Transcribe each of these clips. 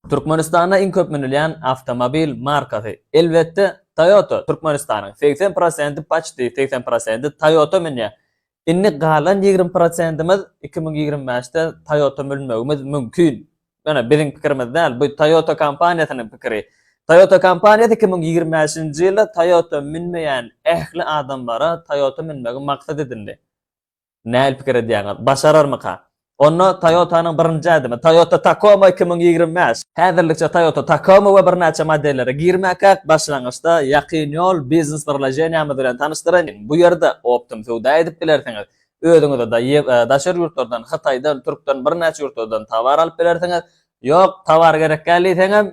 Türkmenistanda iň köp münülýän awtomobil markasy, elbetde, Toyota. Türkmenistanyň segsen prosenti, paçti segsen prosenti Toyota münýär. Indi galan ýigrimi prosentimiz iki müň ýigrimi bäşde Toyota münmegimiz mümkin. Ýöne biziň pikirimiz däl, bu Toyota kompaniýasynyň pikiri. Toyota kompaniýasy iki müň ýigrimi bäşinji ýylda Toyota münmeýän ähli adamlara Toyota münmegi maksat edindi. Nähili pikir edýäňiz? Başararmyka? Onda Toyota-nyň birinji ädimi, Toyota Tacoma iki müň ýigrimi bäş. Häzirlikçe Toyota Tacoma we birnäçe modellere girmäkäk, başlangyçda Ýakyn Ýol biznes birleşeniýämiz bilen tanyşdyraýyn. Bu ýerde optym söwda edip bilersiňiz. Özüňize-de daşary ýurtlardan, Hytaýdan, türkden, birnäçe ýurtlardan towar alyp bilersiňiz. Ýok, towar gerekgäl diýseňem,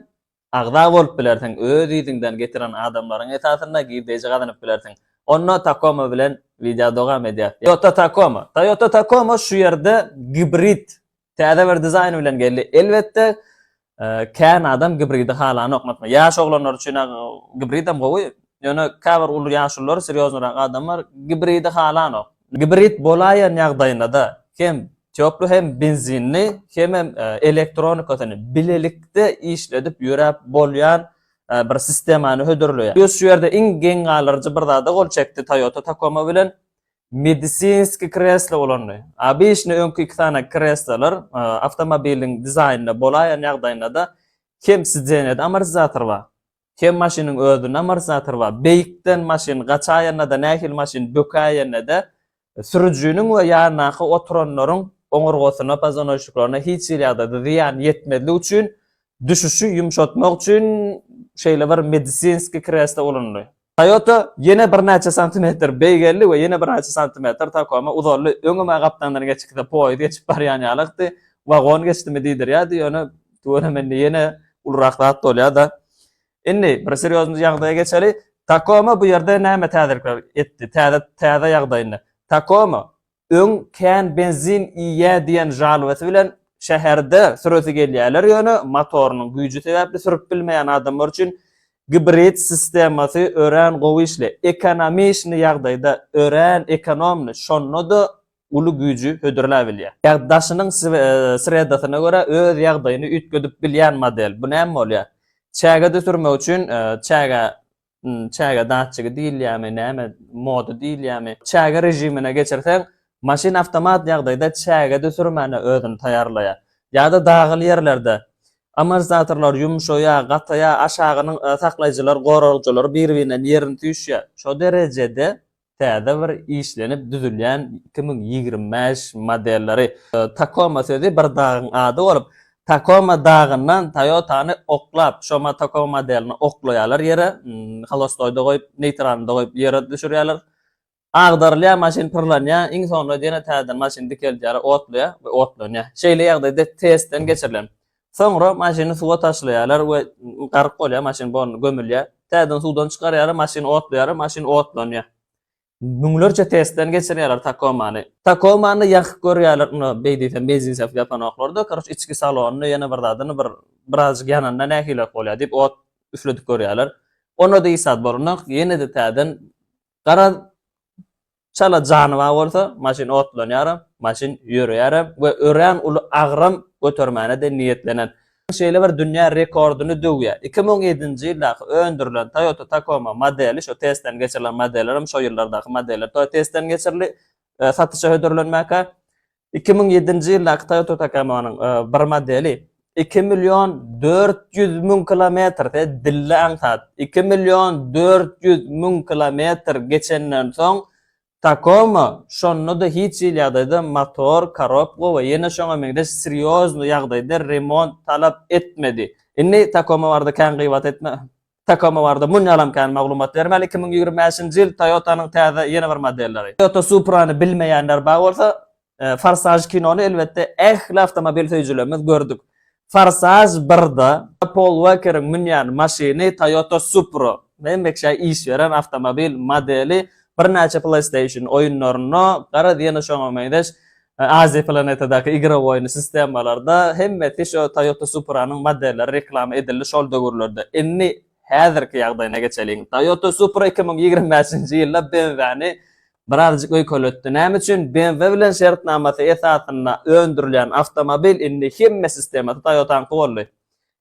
Agza bolup bilersiň, öz yzyňdan getiren adamlaryň esasynda girdeji gazanyp bilersiň. Onda Tacoma bilen wideo dowam edýär. Toyota Tacoma. Toyota Tacoma şu ýerde gibrid, täze bir dizaýn bilen geldi. Elbetde, kän adam gibridi halanok. Ýaş oglanlar üçin-ä gibridem gowy, Ýöne käbir uly ýaşulular, serýoznyrag adamlar gibridi halanok. Gibrid bolaýan ýagdaýynda-da hem toply hem benzinli hemem elektronikasyny bilelikde işledip ýöräp bolýan bir sistemany hödürleýär. Biz şu ýerde iň geň galyryjy bir zada gol çekdi Toyota Tacoma bilen medisinski kreslo ulandy. Obyçny öňki iki sany kreslolar awtomobiliň dizaýnynda bolaýan ýagdaýynda-da hem sidenýada amortizator bar. Kem maşynyň özüne amortizator bar. Beýikden maşyn gaçaýanda-da, nähili maşyn bökäýende-de sürüjiniň we ýandaky oturanlaryň oňurgasyna, pozanoýçniklaryna hiç hili ýagdaýda zyýan ýetmezlik üçin, düşüşi ýumşatmak üçin şeýle bir medisinskiý kreslo ulanyly. Toyota ýene birnäçe santimetr beýgeldi we ýene birnäçe santimetr Tacoma uzaldy. Öňem-ä gapdandan geçip gitse, poýuz geçip barýan ýalykdy. Wagon geçdimi diýdirýärdi, ýöne Tuwele mende ýene ulurak zat bolýa-da. Indi bir serýozny ýagdaýa geçeli. Takoma bu ýerde näme täzelikler etdi? Täze täze ýagdaýynda. Takoma öň kän benzin iýýä diýen žalobasy bilen şäherde süresi gelýärler, ýöne motorynyň güýji sebäpli sürüp bilmeýän adamlar üçin gibrid sistemasy örän gowy işleýär. Ekonomiçni ýagdaýda, örän ekonomny, şonda-da uly güýji hödürläbilýär. Ýagdaşynyň sredasyna görä öz ýagdaýyny üýtgedip bilýän model. Bu näme bolýar? Çäge düşürmek üçin çäge, çäge datçigi diýilýärmi, näme, moda diýilýärmi, çäge režimine geçirseň, maşyn awtomat ýagdaýda çäge düşürmäne özüni taýýarlaýar. Ýa-da dagyly ýerlerde amortizatorlar ýumşaýar, gataýar, aşagynyň saklaýjylar, goragçylar bir-birinden ýerini süýşýär. Şo derejede täze bir işlenip düzülýän iki müň ýigrimi bäş modelleri. Takoma sözi bir dagyň ady bolup, Takoma dagyndan Toyota-ny oklap, şoma Takoma modelini oklaýarlar ýere, holostoýda goýup, neýtralynda goýup ýere düşürýärler. Agdarylýar maşyn pyrlanýar, iň soňunda ýene täzeden maşyny dikeldýärler, otlaýar we otlanýar. Şeýle ýagdaýda testden geçirilen Soňra maşyny suwa taşlaýarlar we garyk bolýar, maşyn bolny gömülýär. Täzeden suwdan çykarýarlar, maşyny otlaýarlar, maşyn otlanýar. Müňlerçe testden geçirýärler Takomany. Takomany ýakyp görýärler, ony beý diýsem mezinsef ýapanoklar-da, karoç içki salonyny, ýene bir zadyny bir birazjyk ýananda nähilirek bolýar diýip ot üfledip görýärler. Onda-da iş zat bolanok, ýene-de täzeden garaz Çala janyba bolsa, maşyn otlanýaram, maşyn ýöreýärem we örän uly agram götermäne-de niýetlenen. Şeýle bir dünýä rekordyny döwýär. Iki müň ýedinji ýyldaky öndürilen Toyota Tacoma modeli, şu testden geçirilen modellerem şo ýyllardaky modeller testden geçirildi, satyşa hödürlenmäge. Iki müň ýedinji ýyldaky Toyota Takamanyň bir modeli iki million dört ýüz müň kilometr, siz dilli aňsat, iki million dört ýüz müň kilometr geçenden soň Takoma şonda-da hiç hili ýagdaýda motor, korobka we ýene şoňa meňzeş serýozny ýagdaýda remont talap etmedi. Indi Takoma barada kän gybat etme. Tacoma barada munýalam kän maglumat bermeli, iki müň ýigrimi bäşinji ýyl Toyota-nyň täze ýene bir modelleri. Toyota Supra-ny bilmeýänler bar bolsa, Forsaj kinony elbetde ähli awtomobil söýüjilerimiz gördük. Forsaj birde Pol Uokeriň münýän maşyny Toyota Supra. Hemmeşä iş beren awtomobil modeli, birnäçe PlayStation oýunlarynda, garaz ýene şoňa meňzeş Aziýa planetadaky igrow oýny sistemalarda hemmesi şo Toyota Supra-nyň modelleri reklama edildi şol döwürlerde. Indi häzirki ýagdaýyna geçeliň. Toyota Supra iki müň ýigrimi bäşinji ýylda BMW-ni birazjyk öýkeletdi. Näme üçin? BMW bilen şertnamasy esasynda öndürilýän awtomobil indi hemme sistemasy Toyota-nyňky boldy.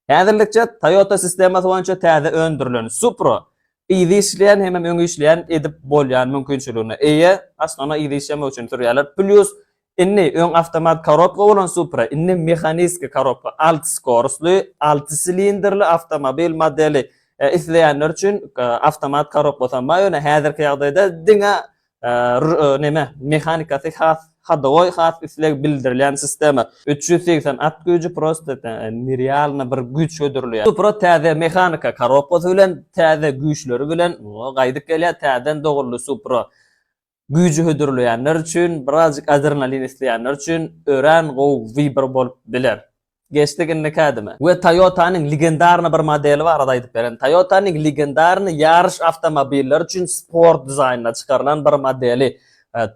Häzirlikçe Toyota sistemasy boýunça täze öndürilen Supra Yzy işleýän hemem öňi işleýän edip bolýan mümkinçiligine eýe. Aslynda ony yzy işlemek üçin sürýärler. Plýus indi öň awtomat korobka bolan Supra indi mehaniski korobka alty skorusly, alty silindrli awtomobil modeli. Isleýänler üçin awtomat korobka sanma ýöne häzirki ýagdaýda diňe Neme, mehanikasy has hodowoý, has isleg bildirilýän sistema. Üç ýüz segsen at güýji prosta nerealny bir güýç hödürleýär. Supra täze mehanika korobkasy bilen, täze güýçleri bilen gaýdyp gelýär. Täzeden doguldy Supra. Güýji hödürleýänler üçin, birazjyk adrenalin isleýänler üçin örän gowy wybor bolup biler. Geçdik indiki ädime. We Toyota-nyň legendarny bir modeli barada aýdyp beren. Toyota-nyň legendarny ýaryş awtomobilleri üçin sport dizaýnynda çykarylan bir modeli.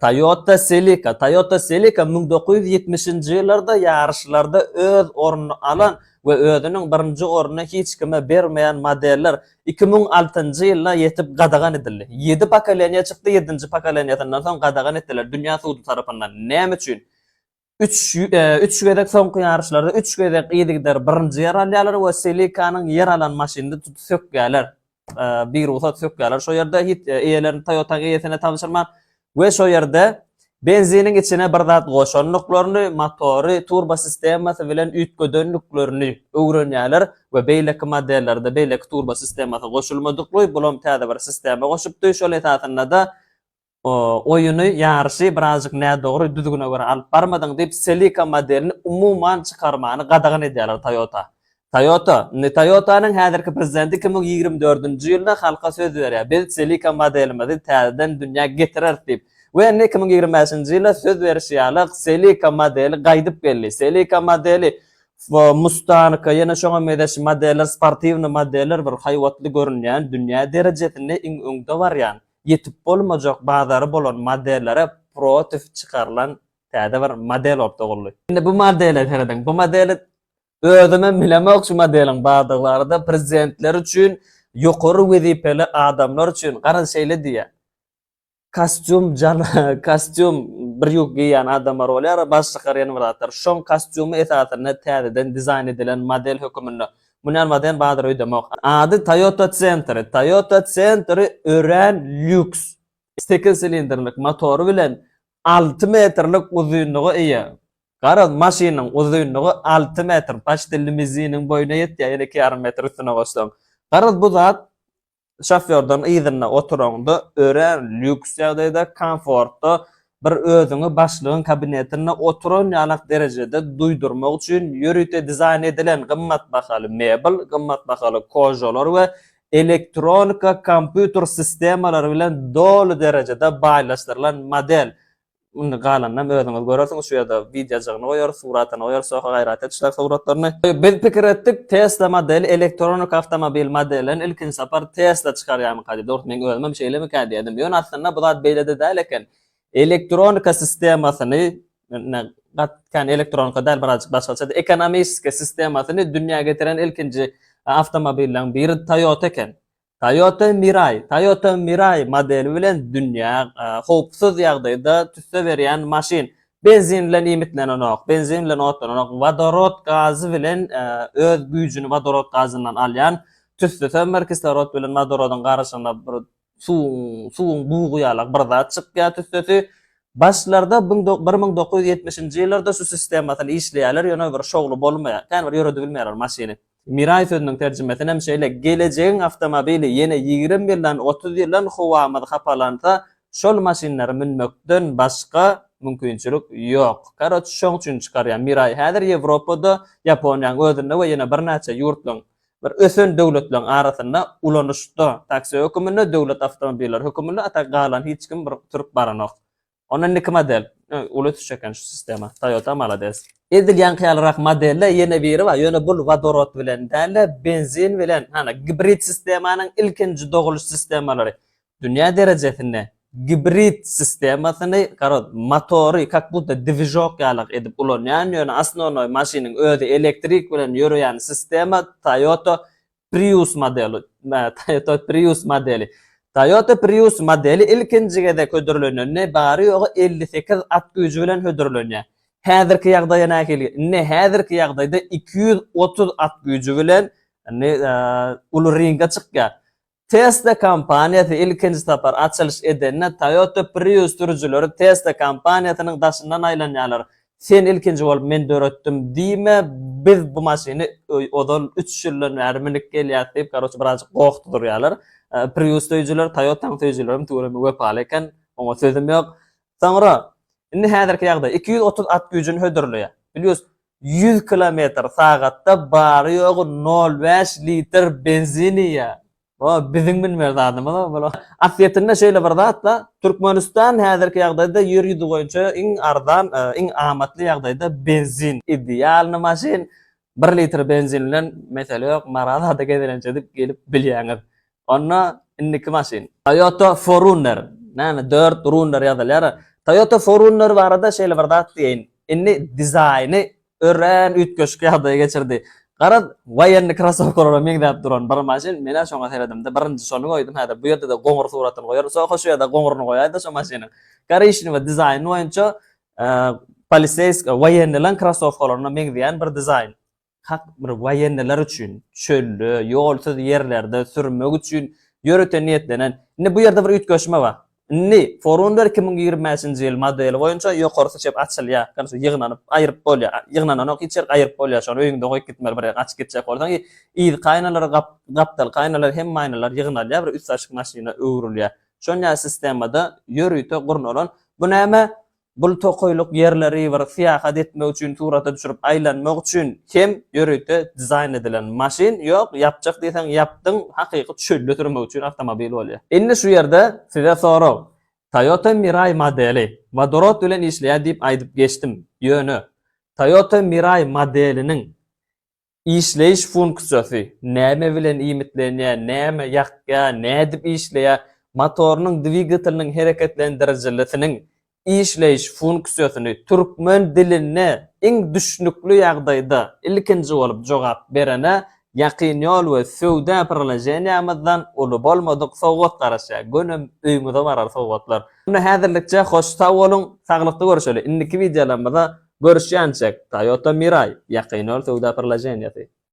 Toyota Celica. Toyota Celica müň dokuz ýüz ýetmişinji ýyllarda ýaryşlarda öz ornuny alan we özüniň birinji ornuny hiç kime bermeýän modeller iki müň altynjy ýyla ýetip gadagan edildi. Ýedi pokoleniýa çykdy, ýedinji pokoleniýasyndan soň gadagan etdiler dünýä sudy tarapyndan. Näme üçin? Üç üç gezek soňky ýaryşlarda üç gezek yzygider birinji ýer alýarlar we Selikanyň ýer alan maşynyny tutup sökýärler. Birugsat sökýärler şo ýerde hiç eýelerini Toyota-nyň eýesine tabşyrman we şo ýerde benziniň içine bir zat goşandyklaryny, motory, turbo sistemasy bilen üýtgedendiklerini öwrenýärler we beýleki modellerde beýleki turbo sistemasy goşulmadykly, bulam täze bir sistema goşupdy, şol esasynda-da oýuny, ýaryşy birazjyk nädogry düzgüne görä alyp barmadyň diýip, Celica modelini umuman çykarmany gadagan edýärler Toyota. Toyota, indi Toyota-nyň häzirki prezidenti iki müň ýigrimi dördünji ýylda halka söz berýär, biz Celica modelimizi täzeden dünýä getireris diýip we indi iki müň ýigrimi bäşinji ýylda söz berişi ýaly Celica modeli gaýdyp geldi. Celica modeli, Mustang, ýene şoňa mezeş modeller, sportiwnyý modeller bir haýbatly görünýän, dünýä derejesinde iň öňde barýan. Ýetip bolmajak bazary bolan modellere protiv çykarylan täze bir model orta goldy. Indi bu modele serediň. Bu modeli özümem bilemok şu modeliň bardyglary-da prezidentler üçin ýokary wezipeli adamlar üçin garaz şeýle diýýä kostýum kostýum bir ýuk geýýän adamlar bolýar baş çykarýan zatlar şoň kostýumy esasynda täzeden dizaýn edilen model höküminde Mundan baden bazar öýdemok. Ady Toyota Century. Toyota Century örän lýuks, sekiz silindrlik motory bilen alty metrlik uzynlyga eýe. Garaz, maşynyň uzynlygy alty metr, paçti limuziniň boýuna ýetýär, ýene iki ýarym metr üstüne goşsaň. Garaz, bu zat şofýordan yzynda oturaňda örän lýuks ýagdaýda, komfortda, bir özüňi başlygyň kabinetinde oturan ýalak derejede duýdurmak üçin ýörite dizaýn edilen gymmat bahaly mebel, gymmat bahaly kožolar we elektronika kompýuter sistemalary bilen doly derejede baýlaşdyrylan model Indi galanynam özüňiz görersiňiz şu ýerde wideojygyny goýarys, suratyny goýarys şo gaýrat etişler suratlaryny. Biz pikir etdik Tesla modeli elektronik awtomobil modellerini ilkinji sapar Tesla çykarýarmyka diýip dogrusu meň özümem şeýlemikä diýdim ýöne aslynda bu zat beýlede däl eken elektronika sistemasyny ine gat kän elektronika däl birazjyk başgaçady ekonomiski sistemasyny dünýä getiren ilkinji awtomobilleň biri Toyota eken Toyota Mirai, Toyota Mirai modeli bilen dünýä howpsuz ýagdaýda tüsse berýän maşyn. Benzin bilen iýmitlenenok, benzin bilen otlananok, wodorod gazy bilen öz güýjüni wodorod gazyndan alýan, tüsse sömmer, kislorod bilen wodorodyň garyşygyna bir suwuň, suwuň bugy ýalak bir zat çykýar tüssesi. Başlarda bir müň dokuz ýüz ýetmişinji ýyllarda şu sistemasyny işleýärler, ýöne bir şowly bolmaýar. Kän bir ýöredip bilmeýärler maşyny. Mirai sözüniň terjimesinem şeýle, Gelejegiň awtomobili ýene ýigrimi ýyldan, otuz ýyldan howamyz hapalansa, şol maşynlary münmekden başga mümkinçilik ýok. Karoç, şoň üçin çykarýar. Mirai häzir Ýewropada, Ýaponiýanyň özünde we ýene birnäçe ýurtlaryň, bir ösen döwletleriň arasynda ulanyşda, taksi höküminde, döwlet awtomobilleri höküminde, a tak galan hiç kim bir sürüp baranok. Onda indiki model. Uly tuş eken şu sistema. Toyota malades. Edil ýaňky ýalyrak modelde ýene biri bar, ýöne bul wodorod bilen däl-de, benzin bilen, hany, gibrid sistemanyň ilkinji dogulyş sistemalary. Dünýä derejesinde gibrid sistemasyny, garaz, motory kak budda dwižok ýalak edip ulanýan, ýöne osnonoý maşynyň özi elektrik bilen ýöreýän sistema Toyota Prius modeli, Toyota Prius modeli. Toyota Prius modeli ilkinji gezek hödürlenende bary-ýogy elli sekiz at güýji bilen hödürlenýär. Häzirki ýagdaýa nähili? Indi häzirki ýagdaýda iki ýüz otuz at güýji bilen indi uly ringe çykýar. Tesla kompaniýasy ilkinji sapar açylyş edende Toyota Prius sürüjileri Tesla kompaniýasynyň daşyndan aýlanýarlar. Sen ilkinji bolup men döretdim diýme, biz bu maşyny ozal üç ýyldan bäri münüp gelýäs diýip karoçe birazjyk gohdy durýalar. Prius söýüjiler Toyotanyň söýüjilerim tüweleme wepaly eken, oňa sözüm ýok. Soňra indi häzirki ýagdaý iki ýüz otuz at güýjüni hödürleýär. Plius ýüz kilometr sagatda bary ýogy nol bäş litr benzin iýýär. O biziň bilmer zadymyz o bula. Aslyýetinde şeýle bir zatda, Türkmenistan häzirki ýagdaýda ýer ýüzi boýunça iň arzan, iň amatly ýagdaýda benzin. Idealny maşyn, bir litr benzin bilen mesele ýok, Marazada gezelenç edip gelip bilýäňiz. Onda indiki maşyn. Toyota Forunner, näme dört runner ýazylýar. Toyota Forunner barada şeýle bir zat diýeýin, indi dizaýny örän üýtgeşik ýagdaýy geçirdi. Garaz, woýenni krasowkalara meňzäp duran bir maşyn, men-ä şoňa seredimde, birinji şony goýdum, häzir bu ýerde-de goňur suratyny goýaryn, soň hoş ýa-da goňuryny goýaý-da şo maşynyň. Korişnewe dizaýny boýunça poliseýsk, woýennilaň krasowkalaryna meňzeýän bir dizaýn. Hak bir woýenniler üçin, çölde, ýolsuz ýerlerde sürmek üçin ýörite niýetlenen. Indi bu ýerde bir üýtgeşme bar. Indi, Forunder iki müň ýigrimi bäşinji ýyl modeli boýunça ýokary syçyp açylýar. Ýagny şu ýygnanyp, aýryp bolýar. Ýygnananok hiç ýerik, aýryp bolýar. Şony öýüňde goýup gitmeli bir ýere gaçyp gitjek bolsaň i yzky aýnalar, gap, gapdalky aýnalar, hemme aýnalar ýygnalýar, bir üstaşyk maşyna öwrülýär. Şonýa sistemada ýörite gurnalan. Bu näme? Bul tokaýlyk ýerleri bir syýahat etmek üçin surata düşürip aýlanmak üçin hem ýörite dizaýn edilen maşyn ýok ýapjak diýseň ýapdyň hakyky çölde sürmek üçin awtomobil bolýar. Indi şu ýerde size sorag Toyota Mirai modeli wodorod bilen işleýär diýip aýdyp geçdim ýöne Toyota Mirai modeliniň Işleýiş funksiýasy, näme bilen iýmitlenýär, näme ýakýar, nädip işleýär, motorynyň, dwigateliniň hereketlendirijilisiniň işleýiş funksiýasyny türkmen dilinde iň düşnükli ýagdaýda ilkinji bolup jogap berene Ýakyn ýol we söwda priloženiýamyzdan uly bolmadyk sowgat garaşýar. Gönem öýüňize barar sowgatlar. Indi häzirlikçe hoş sag boluň saglykda görüşeli indiki wideolarymyzda görüşýänçek Toyota Mirai ýakyn öl söwda pyrlaženiýasy.